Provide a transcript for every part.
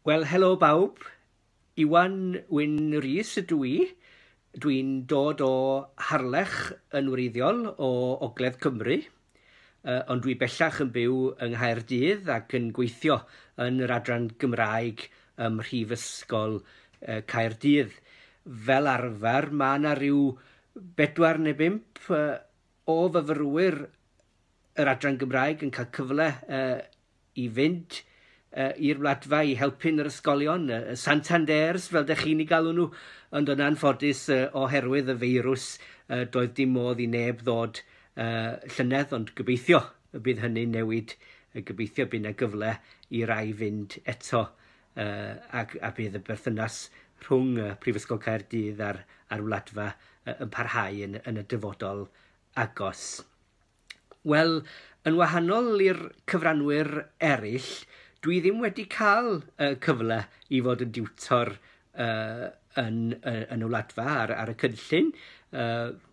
Wel, helo bawb. Iwan Wyn Rhys ydw i. Dwi'n dod o Harlech yn wreiddiol o Ogledd Cymru, ond dwi bellach yn byw yng Nghaerdydd ac yn gweithio yn yr adran Gymraeg ym Mhrifysgol Caerdydd. Fel arfer, mae yna rhyw bedwar neu bump o fyfyrwyr yr Adran Gymraeg yn cael cyfle uh, i fynd uh, i'r wladfa i helpu'n yr ysgolion, uh, Santanders fel dych chi'n ei galw nhw, ond yn anffodus uh, oherwydd y feirws uh, doedd dim modd i neb ddod uh, llynedd, ond gobeithio y bydd hynny'n newid, y gobeithio bydd yna gyfle i rai fynd eto uh, ac a bydd y berthynas rhwng uh, Prifysgol Caerdydd a'r, ar wladfa uh, yn parhau yn, yn y dyfodol agos. Wel, yn wahanol i'r cyfranwyr eraill, dwi ddim wedi cael uh, cyfle i fod yn diwtor uh, yn, uh, yn y wladfa ar, ar y cynllun. Uh,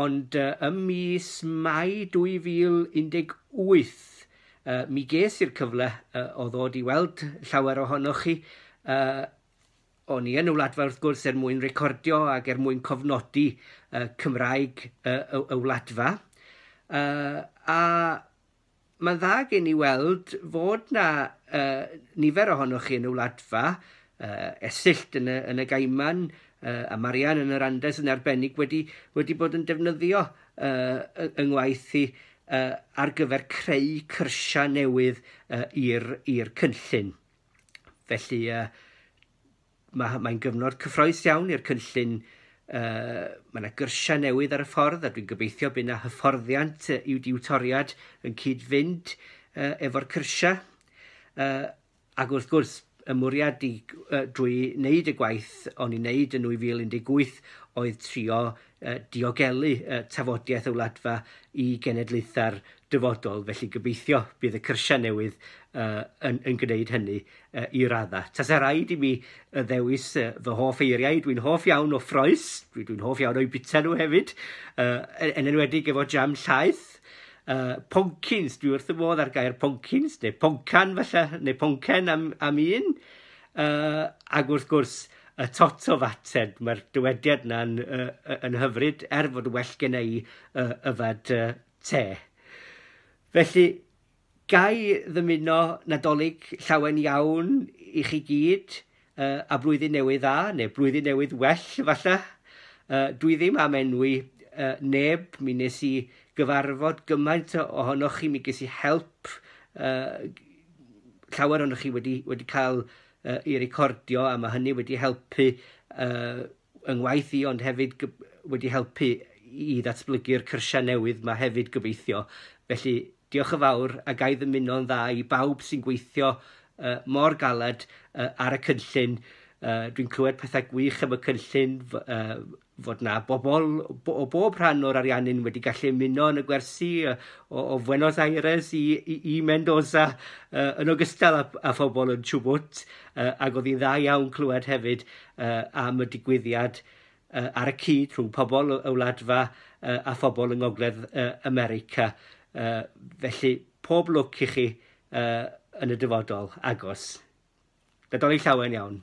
Ond ym mis Mai 2018 mi ges i'r cyfle o ddod i weld llawer ohonoch chi. O'n i yn y Wladfa wrth gwrs er mwyn recordio ac er mwyn cofnodi Cymraeg y Wladfa. A Mae'n dda gen i weld fod na uh, nifer ohonoch chi yn y wladfa, uh, esyllt yn y, yn y gaiman, uh, a Marian yn yr Andes yn arbennig wedi, wedi bod yn defnyddio uh, yng ngwaith i uh, ar gyfer creu cyrsiau newydd uh, i'r cynllun. Felly, uh, Mae'n mae gyfnod cyffroes iawn i'r cynllun. Uh, mae yna gyrsiau newydd ar y ffordd a dwi'n gobeithio bydd yna hyfforddiant i'w diw toriad yn cyd-fynd uh, efo'r cyrsiau. Uh, ac wrth gwrs, y mwriad i, uh, drwy wneud y gwaith o'n i'n wneud yn 2018 oedd trio diogelu tafodiaith y Wladfa i genedlaethau'r dyfodol, felly gobeithio bydd y cyrsiau newydd yn, yn gwneud hynny i raddau. Tasa rhaid i mi ddewis fy hoff eiriau, dwi'n hoff iawn o ffroes, dwi'n dwi hoff iawn o'i bita nhw hefyd, e, yn enwedig efo jam llaeth, Uh, poncins, dwi wrth y modd ar gair poncins, neu poncan falle, neu poncen am, am un. Uh, ac wrth gwrs, y tot o fated, mae'r dywediad yna'n uh, yn hyfryd, er fod yn well gen i uh, yfad uh, te. Felly, gai ddymuno nadolig llawen iawn i chi gyd uh, a blwyddyn newydd dda, neu blwyddyn newydd well falle. Uh, dwi ddim am enwi uh, neb, mi nes i gyfarfod gymaint ohonoch chi, mi ges i help uh, llawer ohonoch chi wedi, wedi cael uh, i recordio a mae hynny wedi helpu uh, yng ngwaith i ond hefyd wedi helpu i ddatblygu'r cyrsiau newydd mae hefyd gobeithio. Felly diolch yn fawr a gai ddymuno'n dda i bawb sy'n gweithio uh, mor galed uh, ar y cynllun. Uh, Dwi'n clywed pethau gwych am y cynllun, uh, fod 'na bobl o bob rhan o'r Ariannin wedi gallu ymuno yn y gwersi o Buenos Aires i Mendoza yn ogystal â phobl yn Chubut ac oedd hi'n dda iawn clywed hefyd am y digwyddiad ar y cyd rhwng pobl y wladfa a phobl yng Ngogledd America. Felly, pob lwc i chi yn y dyfodol agos. Nadolig Llawen iawn.